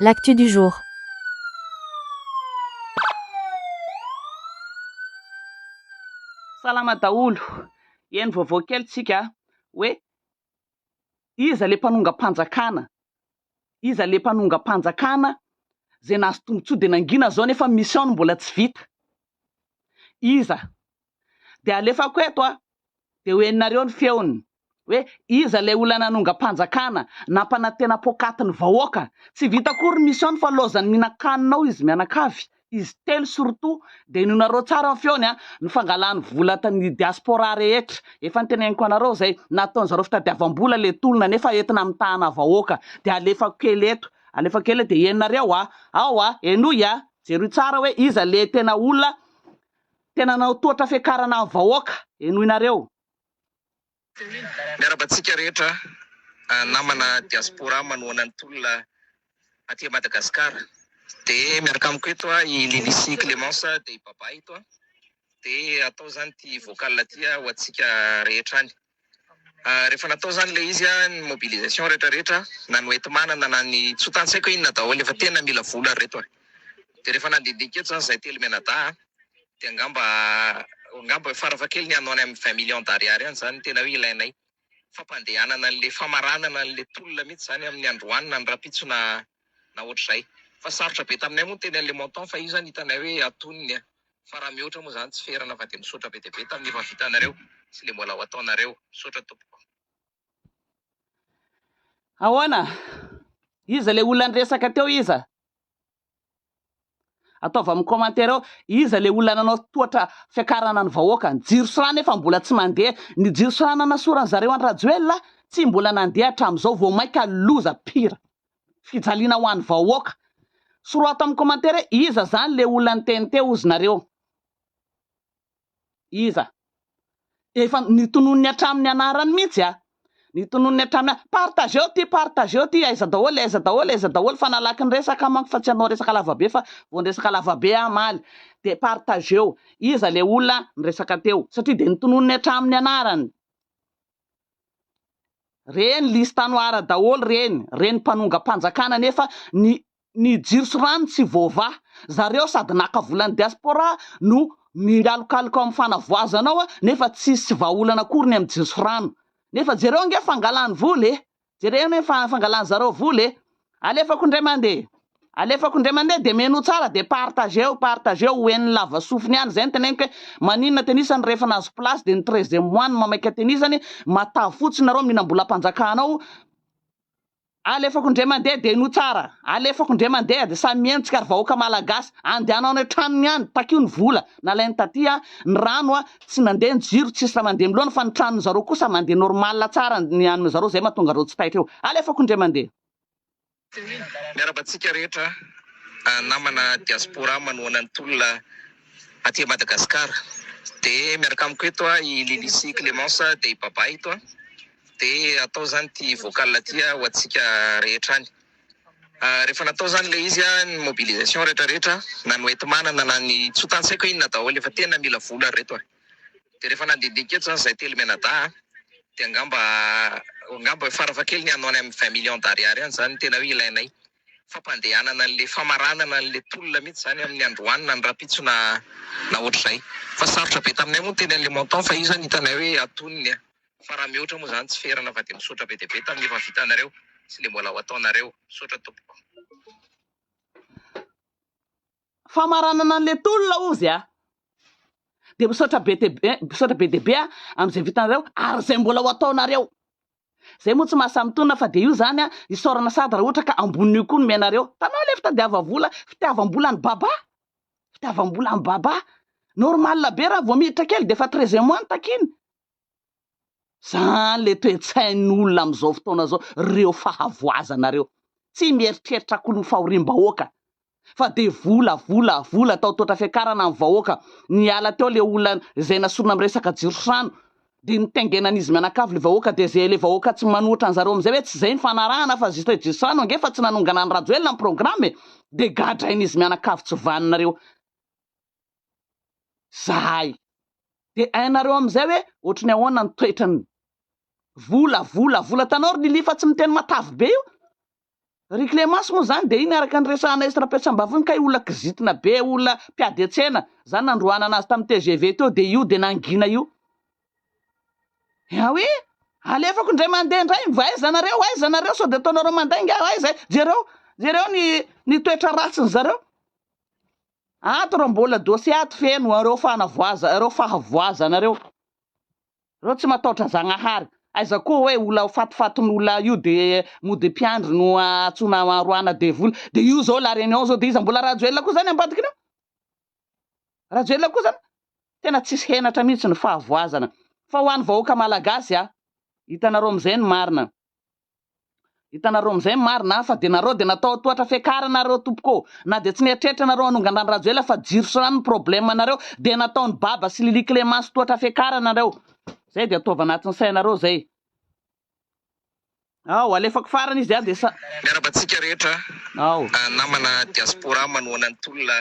L'actu du jour. Salama daholo, eny vaovao kely tsika hoe iza le mpanongam-panjakana, iza le mpanongam-panjakana zay nahazo tombotsoa de nangina zao nefa mission-ny mbola tsy vita, iza dia alefako eto aho dia ho henonareo ny feony hoe iza ilay olona nanongam-panjakana nampanantena poakaty ny vahoaka tsy vita akory ny mission-ny fa laozan'ny mihinan-kanina ao izy mianakavy izy telo surtout dia henoinareo tsara ny feony an ny fangalany vola ny diaspora rehetra efa niteneniko anareo izay nataon'izareo fitadiavam-bola ilay tolona nefa entina mitahana vahoaka dia alefako kely eto alefako kely dia henonareo a ao a henoy a jeroy tsara hoe iza ilay tena olona Tena nanao tohatra fiakarana ny vahoaka, henoinareo. Miarahaba antsika rehetra namana diaspora manohana ny tolona aty Madagascar de miaraka amiko eto a i Lily sy Clemence de i Baba eto a de atao zany ty vocal ty a ho antsika rehetra any. Rehefa natao izany ilay izy, ny mobilisation rehetra rehetra, na ny hoenti-manana na ny tsy ho tany tsy haiko hoe inona daholo, efa tena mila vola ry reto e! Dia rehefa nandihindinika eto izany izahay telo mianadahy an, dia angamba angamba farafahakeliny any ho any amin'ny vingt millions d'ariary any izany no tena hoe ilainay, fampandehanana an'ilay famaranana an'ilay tolona mihitsy izany amin'ny androany na ny rahampitso na na ohatr'izay. Fa sarotra be taminay moa ny teny Alemonton fa io zany hitanay hoe atonony a! Fa raha mihoatra moa zany tsy ferana fa dia misaotra be dia be tamin'ny efa vitanareo sy le mbola ho ataonareo. Misaotra tompoko. Ahoana? Iza ilay olona niresaka teo iza? Ataovy amin'ny commentaire ao iza le olona nanao tohatra fiakarana ny vahoaka, ny jiro sy rano efa mbola tsy mandeha, ny jiro sy rano nanasoran'ny zareo an Rajoelina tsy mbola nandeha hatramin'izao vao maika loza pire, fijaliana ho an'ny vahoaka, soroha ato amin'ny commentaire iza zany le olona niteny teo ozy nareo. Iza? Efa notononiny hatramin'ny anarany mihitsy a! Notononiny hatramin'ny a! Partageo ity, partageo ity, aiza daholo, aiza daholo, aiza daholo fa nalaky ny resaka manko fa tsy hanao resaka lavabe fa vao niresaka lavabe aho hamaly dia partageo, iza ilay olona niresaka teo? Satria dia notononiny hatramin'ny anarany. Reny liste noire daholo reny, reny mpanongam-panjakana nefa ny ny jiro sy rano tsy voavaha zareo sady naka volan'ny diaspora no mingalokaloka ao amin'ny fanavoazana ao nefa tsisy vahaolana akory ny amin'ny jiro sy rano nefa jereo ange fangalany vola e! jereo anie ny fangalany zareo vola e! alefako indray mandeha alefako indray mandeha dia menoa tsara dia partageo partageo ho henon'ny lava sofiny any izay no teneniko hoe maninona tenisany rehefa nahazo place dia ny treizième mois no mamaika tenisany mataha fotsiny nareo mihinam-bolam-panjakana ao Alefako ndre mandeha dia inoa tsara, alefako ndre mandeha dia samy mieno tsika ry vahoaka malagasy, andehanao any an-tranony any, takio ny vola nalainy taty a, ny rano a, tsy nandeha ny jiro, tsisy raha mandeha miloana fa ny tranony zareo kosa mandeha normal tsara ny an'ny zareo zay mahatonga reo tsy taitra eo, alefako ndre mandeha. Miarahaba antsika rehetra namana diaspora manohana ny tolona aty Madagascar, de miaraka amiko eto i Lily sy Clemence de i Baba eto a, De atao zany ty vocal ty ho antsika rehetra any, rehefa natao zany le izy ny mobilisation rehetra rehetra na ny hoentimanana na ny tsy ho tantsaiko inona daholo efa tena mila vola ry reto a, de rehefa nandindinika eto zany zahay telo mianadahy a de angamba angamba fara fahakeliny any amin'ny vingt millions d'ariary any zany tena hoe ilainay fampandehanana anle famaranana anle tolona mihitsy zany amin'ny androany na ny rahampitso na na ohatr'izay fa sarotra be taminay moa ny teny anle montant fa io zany hitanay hoe atonony a. Fa raha mihoatra moa zany tsy ferana fa dia misaotra be dia be tamin'ny efa vitanareo sy le mbola ho ataonareo. Misaotra tompoko. Famaranana anle tolona ozy a! Dia misaotra be dia be, misaotra be dia be a amin'izay vitanareo ary izay mbola ho ataonareo. Zay moa tsy maha samy tolona fa dia io zany a, isaorana sady raha ohatra ka ambonin'io koa no mianareo. Tanao le fitadiava vola, fitiavam-bola an'i Baba, fitiavam-bola an'i Baba. Normal be raha vao miditra kely dia efa treize mois no takiany. Zany le toe-tsain'olona amin'izao fotoana izao, reo fahavoazana reo. Tsy mieritreritra akory ny fahoriam-bahoaka fa de vola, vola, vola, atao tohatra fiakarana ny vahoaka. Niala teo le olona izay nasorina am resaka jiro sy rano de nitaingenan'izy mianakavy le vahoaka de ze le vahoaka tsy manohitra an'zareo am'zay hoe tsy zay ny fanarahana fa juste hoe jiro sy rano ange fa tsy nanongana an'i Rajoelina ny programme e. De gadrain'izy mianakavy tsy vanona reo. zahay. Dia hainareo amin'izay hoe ohatry ny ahoana ny toetrany. Vola, vola, vola. Hitanao ry Lily fa tsy miteny matavy be io. Ry Clémence moa izany dia iny araka ny resahanay esy Rapetrambavy iny kay olona kizitina be, olona mpiady an-tsena. Izany nandroahana azy tamin'ny tgv teo dia io dia nangina io. Yaoui! Alefako indray mandeha indray, mba aiza nareo, aiza nareo, sao dia ataonareo mandainga aho, aiza, jereo, jereo ny, ny toetra ratsin'ny zareo. Ato reo mbola dossier ato feno reo fanavoaza reo fahavoazana reo. Reo tsy mataotra zagnahary. Aiza koa oe ola ho fatifatin'ola io de mody mpiandry no atsona aroana devoly. De io zao la reunion zao de iza mbola Rajoelina koa zany ambadikiny ao? Rajoelina koa zany? Tena tsisy henatra mihitsy ny fahavoazana. Fa ho any vahoaka malagasy a. Hitanareo amizay ny marina. Hitanareo amin'izay ny marina aho fa dia nareo dia natao tohatra fiakarana nareo tompoko ô! Na dia tsy nieritreritra nareo hanonga an-dRajoelina fa jiro sy rano ny problème anareo dia nataon'i Baba sy Lily Clémence tohatra fiakarana nareo! Zay dia ataovy anatin'ny sainareo zay! Ao, alefako farany izy dia sa. Miaraba antsika rehetra Ao. namana diaspora manohana ny tolona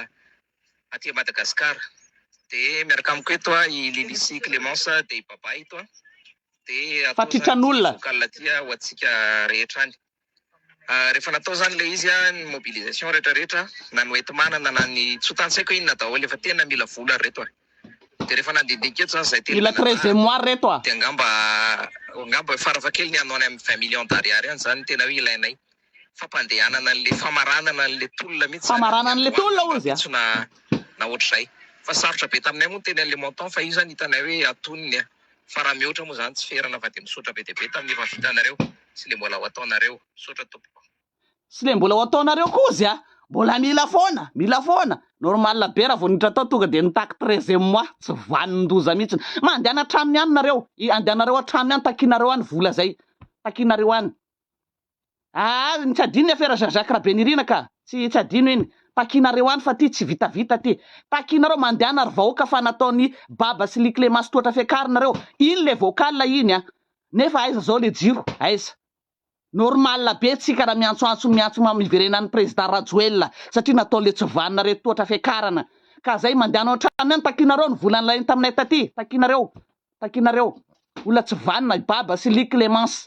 aty Madagascar de miaraka amiko eto a i Lily sy Clemence de i Baba eto a de atao zany ity vocal ty a ho antsika rehetra any rehefa natao zany le izy a ny mobilisation rehetra rehetra na ny hoenti-manana na ny tsy ho tantsaiko inona daholo efa tena mila vola ry reto a de rehefa nandindinika eto zany zay teny mila très et moire reto a de angamba angamba farafahakeliny hanao any amin'ny vingt millions d'ariary any zany tena hoe ilainay fampandehanana anle famaranana anle tolona mihitsy zany Famaranana anle tolona hozy a! na na ohatr'izay fa sarotra be taminay moa ny teny anle montant fa io zany hitanay hoe atonony a! fa raha mihoatra moa zany tsy ferana fa de misaotra be dia be tamin'ny efa vitanareo sy le mbola ho ataonareo. Misaotra tompoko. Sy le mbola ho ataonareo koa hozy a! Mbola mila foana! Mila foana! Normal be raha vao niditra tao tonga dia nitaky treizième mois tsy vanin-doza mihitsy. Mandehana hatrany any nareo, andehanareo hatrany any, takianareo any vola zay, takianareo any. Aa ny tsy adino ny afera Jean Jacques Rabenirina ka! Tsy tsy adino iny. Takianareo any fa ty tsy vitavita ty. Takianareo mandehana ry vahoaka fa nataon'i Baba sy Ly Clémence tohatra fiakarina reo. Iny le vocal iny a! Nefa aiza zao le jiro? Aiza? Normal be tsika raha miantsoantso miantso mam hiverenan'ny Président Rajoelina satria natao le tsy vanona reto tohatra fiakarana. Ka zay mandehana ao an-tranony any takianareo ny vola nilainy taminay taty. Takianareo. Takianareo. Olona tsy vanona i Baba sy Ly Clémence.